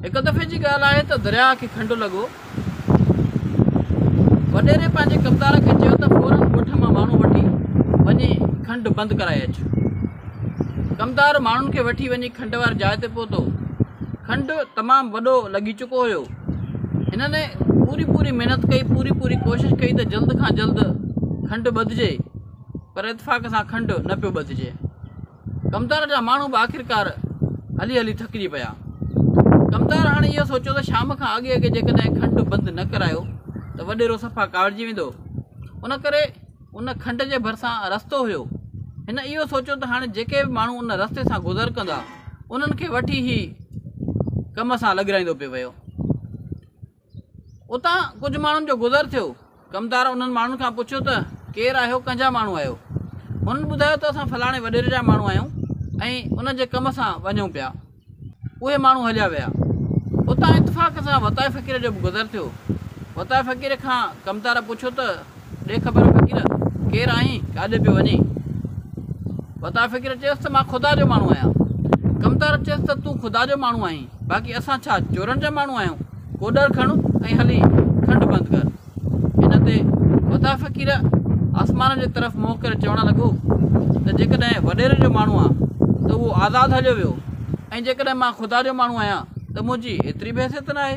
هڪ دفعي جي ڳالهه آهي ته درياء کي کنڊ لڳو. وڏيري پنهنجي ڪمدار کي چيو ته فورن ڳوٺ مان ماڻهو وٺي وڃي کنڊ بند ڪرائي اچ. ڪمدار ماڻهن کي وٺي وڃي کنڊ واري جاء تي پهتو. کنڊ تمام وڏو لڳي چڪو هيو. هنن پوري پوري محنت ڪئي، پوري پوري ڪوشش ڪئي ته جلد کان جلد کنڊ ٻڌجي پر اتفاق سان کنڊ نه پيو ٻڌجي. ڪمتار جا ماڻهو به آخرڪار هلي هلي ٿڪجي پيا. ڪمتار هاڻي اهو سوچيو ته شام کان اڳي اڳي جيڪڏهن کنڊ بند نه ڪرايو ته وڏيرو صفا ڪاوڙجي ويندو. ان ڪري ان کنڊ جي ڀرسان رستو هيو. هن اهو سوچيو ته هاڻي جيڪي به ماڻهو ان رستي سان گذر ڪندا، انهن کي وٺي هي ڪم سان لڳرائيندو پئي ويو. اتان ڪجهه ماڻهن جو گذر ٿيو. ڪمدار انهن ماڻهن کان پڇيو ته ڪير آهيو ڪنهن جا ماڻهو آهيو؟ هنن ٻڌايو ته اسان فلاڻي وڏيري جا ماڻهو آهيون ۽ ان جي ڪم سان وڃون پيا. اهي ماڻهو هليا ويا. اتان اتفاق سان وتائي فقير جو به گذر ٿيو. وتائي فقير کان ڪمدار پڇيو ته. ڏي خبر فقير ڪير آهين ڪاڏي پيو وڃين؟ وتا فقير چيس ته مان خدا جو ماڻهو آهيان. ڪمتار چيس ته تون خدا جو ماڻهو آهين باقي اسان ڇا چورن جا ماڻهو آهيون ڪوڏر کڻ ۽ هلي کنڊ بند ڪر. ان تي وتا فقير آسمان جي طرف منهن ڪري چوڻ لڳو ته جيڪڏهن وڏيري جو ماڻهو آهان ته اهو آزاد هليو ويو ۽ جيڪڏهن مان خدا جو ماڻهو آهيان ته منهنجي ايتري بحثيت ناهي.